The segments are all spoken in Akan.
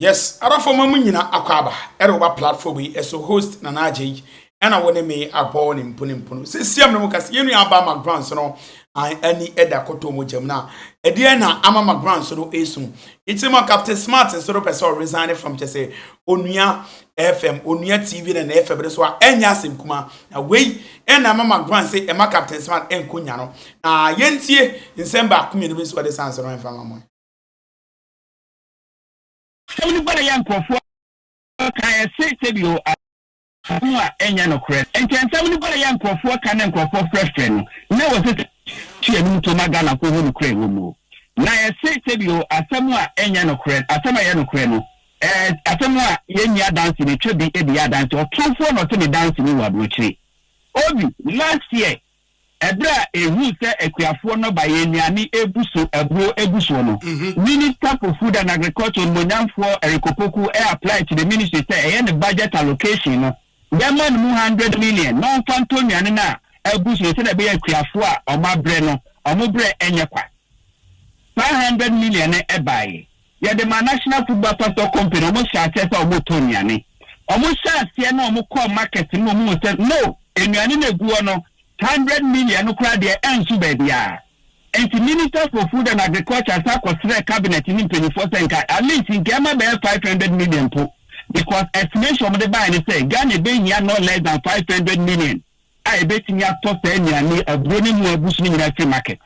Yes adafo ma mo nyina akwaaba ɛde wɔba platform yi ɛso host Nana Adjei ɛna wo ne me abɔ ne mpono mpono sesiam ne mo kasa yɛn nua aba Macbrans no an ani ɛda kɔtɔ mo gyam na ɛdeɛ na ama Macbrans no ɛsu nti ma Captain Smart nso no pɛsɛ ɔresign from kyɛsɛ onua FM onua TV na na FM no so a ɛnyɛ asɛm kuma na wei ɛna ama Macbrans sɛ ɛma Captain Smart ɛnko nya no na yɛntie nsɛm baako mmienu bi nso ɔde sanso no ɛmfa ma mo Asɛm no baeɛ a nkurɔfoɔ kaeɛ se, Sɛdeɛ asɛm a ɛnyɛ nokorɛ. Enti asɛm no baeɛ a nkurɔfoɔ ka na nkurɔfoɔ frɛfrɛ no, na wɔse sɛ ɔntua ne mu to ma Ghanafoɔ hu nokorɛ a ɛwɔ mu. Na yɛse, Sɛdeɛ asɛm a ɛnyɛ nokorɛ, asɛm a ɛyɛ nokorɛ no, ɛɛ asɛm a yɛnni adanse no, ɛtwa bi de yɛ adanse. Ɔtorɔmfoɔ na ɔte ne danse mu wɔ aburokyire. Obi. Last year, Bere a ehuu sɛ akuafoɔ nnɔbaeɛ nnuane rebu so aburo gu soɔ no, Minister for Food and Agriculture Onimonyamfoɔ Eric Opoku apply to the ministry sɛ ɛyɛ ne budget allocation no yɛmma no mu hundred million na ɔmfa ntɔ nnuane no a abu so no sɛdeɛ ɛbɛyɛ akuafoɔ a wɔabrɛ no wɔn berɛ nyɛ kwa. Saa hundred million no baeɛ. Yɛde maa National Football Pastor Company, wɔn hyɛɛ aseɛ sɛ wɔn tɔ nnuane. Wɔn hyɛɛ aseɛ na wɔn kɔɔ market no na wɔn hu sɛ no, nnuane no ɛgu hɔ no, hundred million no koraa deɛ ɛnso baabiara. Ɛnti Minister for Food and Agriculture san kɔ srɛɛ Cabinet no mpaninfoɔ sɛ nka at least nka ɛma bɛyɛ five hundred million mpo because estimation a wɔde baeɛ no sɛ Ghana ɛbɛhia no less than five hundred million a ɛbɛtumi atɔ saa nnuane, aburo ne ɛmu a ɛgu so no nyinaa afiri market.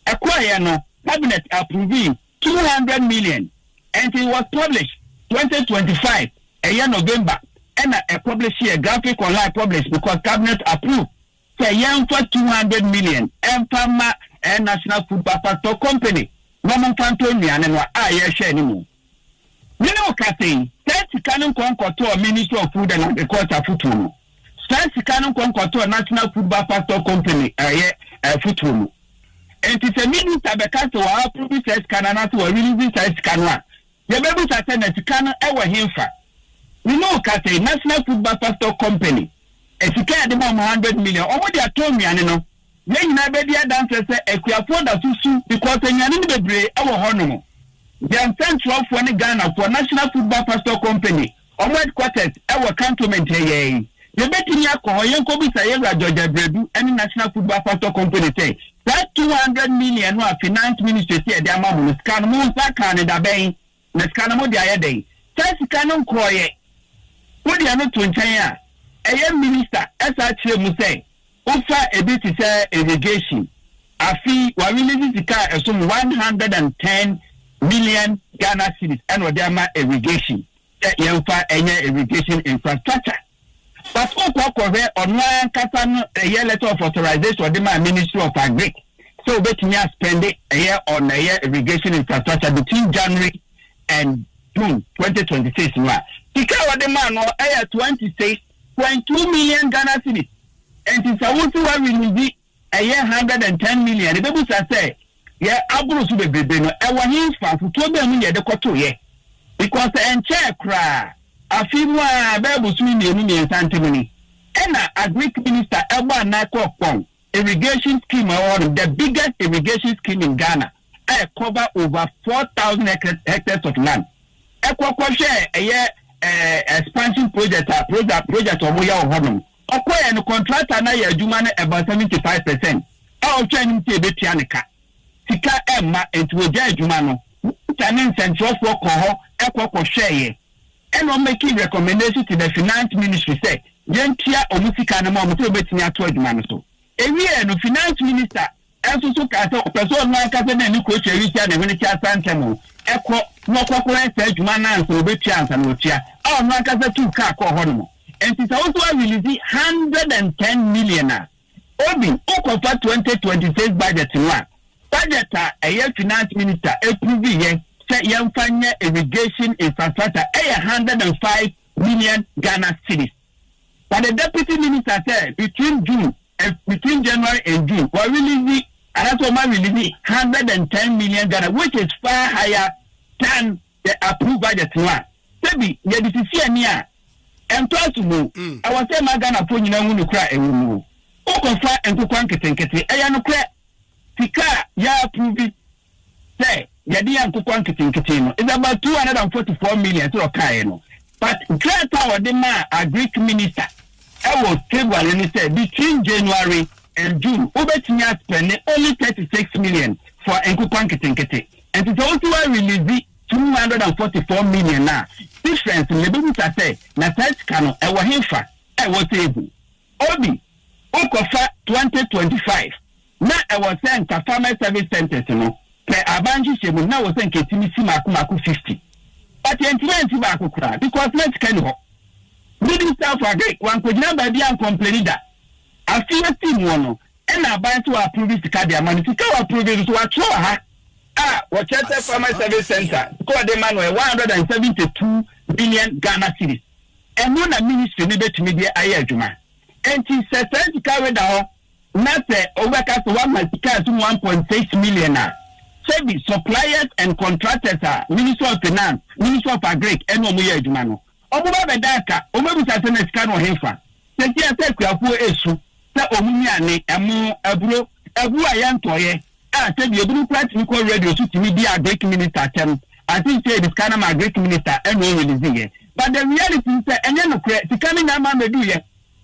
Ɛkɔeɛ no cabinet approvee two hundred million and it was published twenty twenty five ɛyɛ November ɛna ɛ publisheɛ graphic online published because cabinet approved sɛ yɛnfa two hundred million ɛnfa mma ɛ National Food Papato Company na ɔmo nfa ntɔ nnuane no a yɛhwɛɛ no mu. Mene wo ka sei, saa sika no nkɔ nkɔtɔɔ Ministry of Food and Agriculture fotuo no. Saa sika no nkɔ nkɔtɔ National Food Bar Pastor Company a ɛyɛ fotoro no. Enti sɛ Minister bɛka sɛ wa approve saa sika no anaasɛ wa release saa sika no a, yɛbɛbisa sɛ na sika no wɔ henfa? Me ne wo kasa yi, National Food Bar Pastor Company, sika a yɛde ma wɔn hundred million, wɔn de atɔ nnuane no, yɛn nyinaa bɛdi adanseɛ sɛ Akuafoɔ da so su because nnuane no bebree wɔ hɔnom. Yɛn nsɛnkyerɛwfoɔ ne Ghanafoɔ, National Food Bar Pastor Company, Wɔn headquarters wɔ Cantonment ha yi ara yi. Yɛbɛtumi akɔ hɔ yɛnkɔbisa Yɛwura George Abradu ne National Food Bafasto Company sɛ, saa two hundred million no a Finance Ministry se yɛde ama mo no, sika no, mo nsa kaa no dabɛn? Na sika no mode ayɛ dɛn? Saa sika no nkɔeɛ. Wode ɛno to nkyɛn a, ɛyɛ Minister saa kyerɛ mu sɛ, Wofa ebi te sɛ irrigation, afe yi wa release sika a ɛsom one hundred and ten million Ghana cedis ɛna ɔde ama irrigation sɛ yɛnfa ɛnyɛ irrigation infrastructure but wokɔ kɔhwɛ ɔno ara ankasa no ɛyɛ letter of authorization ɔde maa ministry of agric sɛ obetumi aspɛnde ɛyɛ on ɛyɛ irrigation infrastructure between January and June twenty twenty six no a sika a ɔde maa no ɛyɛ twenty six Twenty two million Ghana cedis nti sɛ wo se wa release ɛyɛ hundred and ten million ebe busa sɛ yɛ aboro so bebrebe no ɛwɔ he nfa afotuo bɛn mu na yɛde kɔ to yɛ because ɛnkyɛɛ koraa afe mu aa bɛɛ bosome mmienu mmiensa ntem ni ɛna agric minister ɛbɔ anaa kɔɔ kpɔn irrigation scheme a ɛwɔ hɔ nom, the biggest irrigation scheme in Ghana a ɛ cover over four thousand hectares hectares of land. Ɛ kɔ kɔ hwɛ ɛyɛ ɛɛ expansion project a project project ɔmo yɛ wɔ hɔ nom. Ɔkɔ yɛ no contractor no ayɛ adwuma no about seventy five percent a ɔhwɛ anim sɛ ebetua ne ka. Sika ɛmma nti wogyae adwuma no. Minister ne nsɛnkyerɛwfoɔ kɔɔ hɔ kɔ kɔ hwɛɛ yɛ. Ɛna ɔma ɛkii recommendation to the finance ministry sɛ yɛntua wɔn sika no ma wɔn sɛ wɔbɛtumi ato adwuma no so. Ɛwieɛ no finance minister nso so kaa sɛ ɔpɛ sɛ ɔno ankasa de ne Kotwi Awisia ne Hwenekye Asantamu kɔ na ɔkɔkɔyɛ saa adwuma no ansa wɔbɛtua ansa na wɔtua a ɔno ankasa tuu kaa kɔɔ hɔ nom. Ɛnti sɛ wo nso woa release hundred and ten million a, Obi, wokɔ fa twenty twenty six budget no a, budget a ɛyɛ finance minister approve yɛ sɛ yɛnfa nyɛ irrigation infrastructure ɛyɛ hundred and five million Ghana cedis. But the deputy minister sɛ between June and between January and June wɔ release anaasɛ wɔn a release hundred and ten million Ghana which is far higher than Sɛ approve budget no a, sɛbi yɛde sisi ani a, ɛntɔ asom o. Ɛwɔ sɛ ɛma Ghanafoɔ nyinaa hu nokorɛ a ɛwɔ mu o. Wokɔfa ntokoa nketenkete, ɛyɛ nokorɛ, sika a yɛ approve sɛ yɛde yɛ ntokoa nketenkete no is about two hundred and forty four million sɛdeɛ ɔkaeɛ no. But krataa a wɔde maa Agric Minister ɛwɔ February no sɛ between January and June wobɛtumi aspɛnde only thirty six million for ntokoa nketenkete. Ɛnti sɛ wosi wa release two hundred and forty four million a difference no yɛbɛbisa sɛ na saa sika no ɛwɔ henfa a ɛwɔ table Obi wokɔ fa twenty twenty five na ɛwɔ sɛ nka farmers service centres no pɛ aban nhyehyɛ mu no na ɛwɔ sɛ nka ɛtumi si maako maako fifty but yɛntumi ansi baako koraa because na sika ni hɔ Minister of Agric wankɔgyina baabi ancomplaini da Afei yɛsi muɔ no Ɛna aban so approve sika de ama no. Sika a wɔapprove no nso wɔatwerɛ wɔ ha a wɔkyerɛ sɛ Farmers Service Centre sika a wɔde ma no yɛ one hundred and seventy two million Ghana cedis. Ɛno na ministry no bɛtumi de ayɛ adwuma. Enti sɛ saa sika wei da hɔ na sɛ wobɛka sɛ woama sika a ɛso mu one point six million a, sɛbi suppliers and contractors a Ministry of Finance, Ministry of Agric ɛne wɔn yɛ adwuma no, Ɔmo ba bɛda aka, ɔmo abisa sɛ na sika no wɔ henfa? Seesei a sɛ akuafoɔ resu sɛ ɔmo nnuane, ɛmo, aburo, abuo a yɛntɔeɛ, a sɛ bi ebinom koraa tumi kɔ radio so tumi di Agric minister atɛm, I think sɛ yɛde sika no ama Agric minister ɛna ɔreleaseeɛ. But the reality ne sɛ ɛnyɛ nokorɛ, sika no nyaa maa mɛduuiɛ.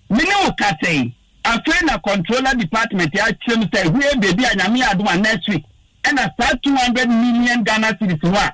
Me ne wo kasa yi, afei na controller department akyerɛ mu sɛ hwee baabi a Nyame yɛ adom a next week ɛna saa two hundred million Ghana cedis no a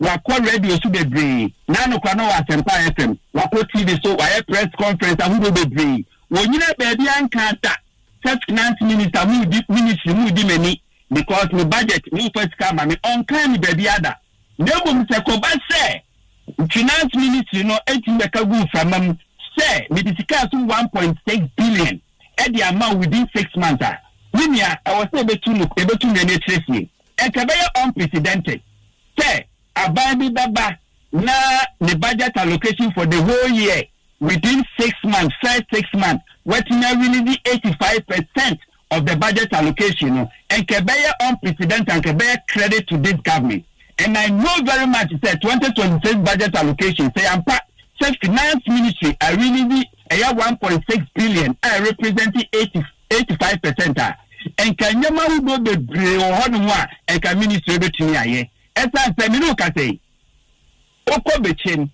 Wakɔ radio so bebree, na anokora na ɔwɔ Asempa FM. Wakɔ TV so, wayɛ press conference ahodoɔ bebree. Wɔnyinaa baabiara nkaa da sɛ finance minister mudi ministry mudi m'ani because me budget momfa sika ama me, ɔnkaa ne baabiara da. Na mmom sɛ kɔba sɛ finance ministry no tumi bɛka gu mframa mu sɛ mede sika so one point six billion de ama wo within six months a, me nua ɛwɔ sɛ yɛbɛtu no yɛbɛtu nnuane akyiri fie. Ɛkɛbɛyɛ unprecedented sɛ aban bi bɛba na ne budget allocation for the whole year within six months, first six months, watumi a release eighty five percent of the budget allocation no. Ɛkɛbɛyɛ unprecedented, ɛkɛbɛyɛ credit to this government and I know very much sɛ twenty twenty six budget allocation sɛ yɛampa sɛ finance ministry a release ɛyɛ one point six billion a ɛrepresent eighty eighty five percent a, nka nneɛma ahodoɔ bebree wɔ hɔ nom a nka ministry bɛtumi ayɛ. Ɛsiane sɛ me ne wo kasa yi, wokɔ Bekyem,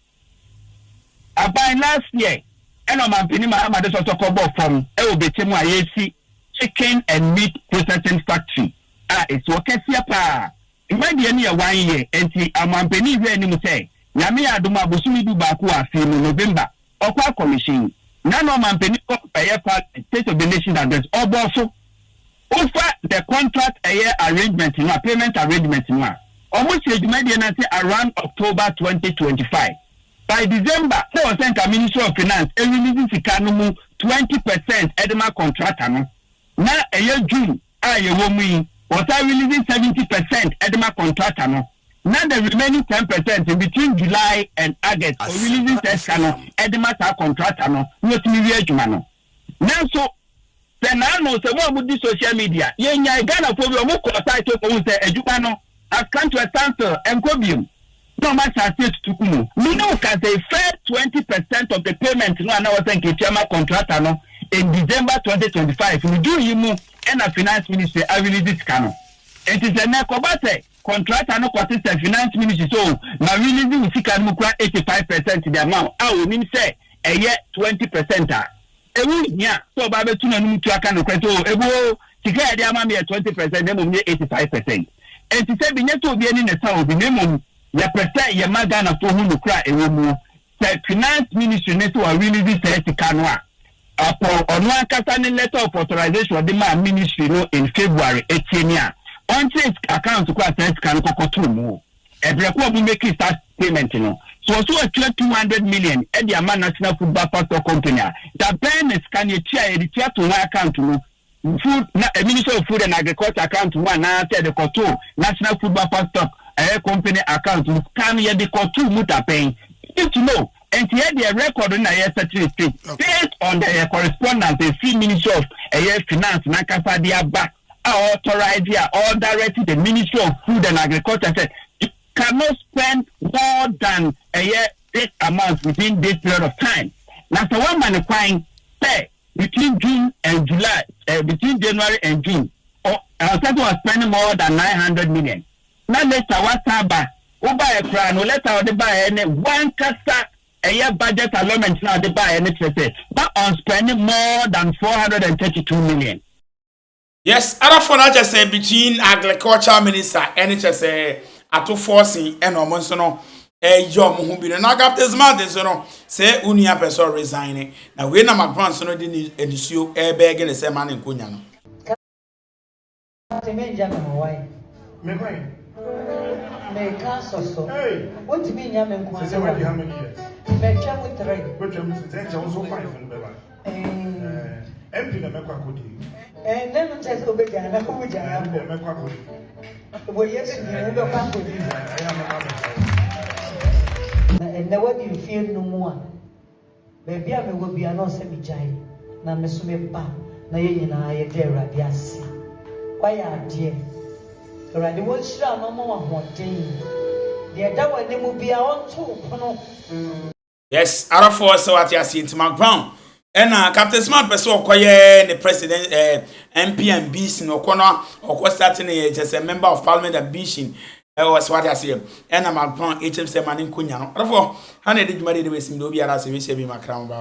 aban last year ɛna ɔmampanin Mahama de sɔsɔ kɔbɔɔ fam wɔ Bekyem a yɛresi chicken and meat processing factory a ɛsi hɔ kɛseɛ pa ara. Mma deɛ no yɛ one year, ɛnti ɔmampanin hwɛ anim sɛ Nyame yɛ adom a bosome du baako wɔ afe yi mu, November, Ɔkwa Commission, na na ɔmanpanin wɔ ɛyɛ Parliament, State of the Nation Address, ɔbɔɔ so. Wofa the contract ɛyɛ arrangement no a, payment arrangement no a, wɔn hyɛɛ dwumadie no ase around October twenty twenty five. By December, na ɛwɔ sɛ nka Ministry of Finance release sika no mu twenty percent de ma contractor no, na ɛyɛ June. a yɛwɔ mu yi, wɔsan release seventy percent de ma contractor no, na the remaining ten percent no, between July and August, o release saa sika no de ma saa contractor no na watumi wie adwuma no. Nanso, sɛ naano, sɛ mo a modi social media, yɛnyae Ghanafoɔ bi, wɔkɔɔ site hɔ kɔhuu sɛ adwuma no has come to a standstill, ɛnkɔ bio. na wɔn asase atutu gu mu. Me ne wo ka sɛɛ, first twenty percent of the payment no a na wɔsɛ nka etua ma contractor no in December twenty twenty five no June yi mu na Finance Ministry a release sika no. Nti sɛ nnɛ ɛkɔba sɛ contractor no kɔte sɛ Finance Ministry sɛ oh ma release wo sika no mu kura eighty five percent de ama wo a onim sɛ ɛyɛ twenty percent a, Ɛho nhia sɛ ɔbaa bɛtu n'anom tu aka nokorɛ sɛ, Oo, Abu oo, sika a ɛde ama me yɛ twenty percent na mmom nyɛ eighty five percent. Ɛnte sɛ benya sɛ obi ani na ɛsa obi, na mmom yɛpɛ sɛ yɛma Ghanafoɔ hu nokorɛ a ɛwɔ muo. Sɛ Finance Ministry no sɛ wa release saa sika no a, ɔpɔn ɔno ankasa ne letter of authorization ɔde maa Ministry no in February atie ne a ɔnkyerɛ account ko a saa sika no kɔkɔtoo muo. Ɛbrɛ ko a ɔmo meki saa payment no, sɛ ɔse ɔtua two hundred million de ama National Food Backfactor Company a, da bɛn na sika no etua a yɛde tua to hɔn account mu, Food, na, Ministry of Food and Agriculture account mu anaa sɛ yɛde kɔto National Food Backfactor ɛyɛ Company account mu, sika no yɛde kɔto mu da bɛn? We need to know, ɛnti yɛ deɛ record no na yɛ setting straight based on the ɛyɛ correspondence ɛfiri Ministry of ɛyɛ Finance nankasa de aba. a authorized a ɔredirect the Ministry of Food and Agriculture sɛ you cannot spend more than ɛyɛ this amount within this period of time. Na sɛ woama no kwan sɛ between June and July, eh, between January and June, ɔ- ɛwɔ sɛ sɛ ɔspend more than 900 million. Na later woasan aba, wobaeɛ koraa no, letter a wɔde baeɛ ne wankasa ɛyɛ budget allotment no a wɔde baeɛ no kyerɛ sɛ ma ɔnspend more than 432 million. Yes other four na kyɛ sɛ between agriculture minister ɛne kyɛ sɛ atofoɔ sen ɛna ɔmo nso no ɛyɛ ɔmo ho bi no na captain smart nso no sɛ onua pɛ sɛ ɔresign ne na wei na macron nso no de ne nisuo ɛbɛɛge ne sɛ ma ne nkonya no. Captain menja me ho wai. Memory. Meka sɔsɔ. Hey. Wontumi nya me nko ase wa. Sɛ sɛ wadi how many years? Mɛtwa mu three. Wɛtwa mu three. Sɛ nkyɛn wo so five no bɛba. MP na mɛkɔ akɔdi. Ɛnna no kyerɛ sɛ wobɛgyaa na wobɛgyaa na mbɔ. Mɛkɔ akɔdi. Wɔ Yesu deɛ wobɛkɔ akɔdi. Na ɛnna wadi mfeɛ nnum a baabi a mewɔ bia na ɔsɛ megyae na me so meba na yɛn nyinaa yɛda Awurade ase. Woayɛ adeɛ. Awurade wɔnhyira wo na ɔma wo ahoɔden. Deɛ ɛda w'anim biara ɔnto wo pono. Yes ara fo sɛ wate aseɛ nti ma ground ɛna Captain Smart pɛ sɛ ɔkɔyɛ ne president ɛɛ eh, MP ambition ɔkɔ no ɔkɔ start ne yɛ sɛ member of parliament ambition ɛwɔ sɛ wate aseɛ ɛna ma ground ɛkyɛm sɛ ma ne nkɔ nya no ara fo ha na ɛde dwuma de de bɛsim de obiara sɛ wɛhyɛ bi ma kra mo baaba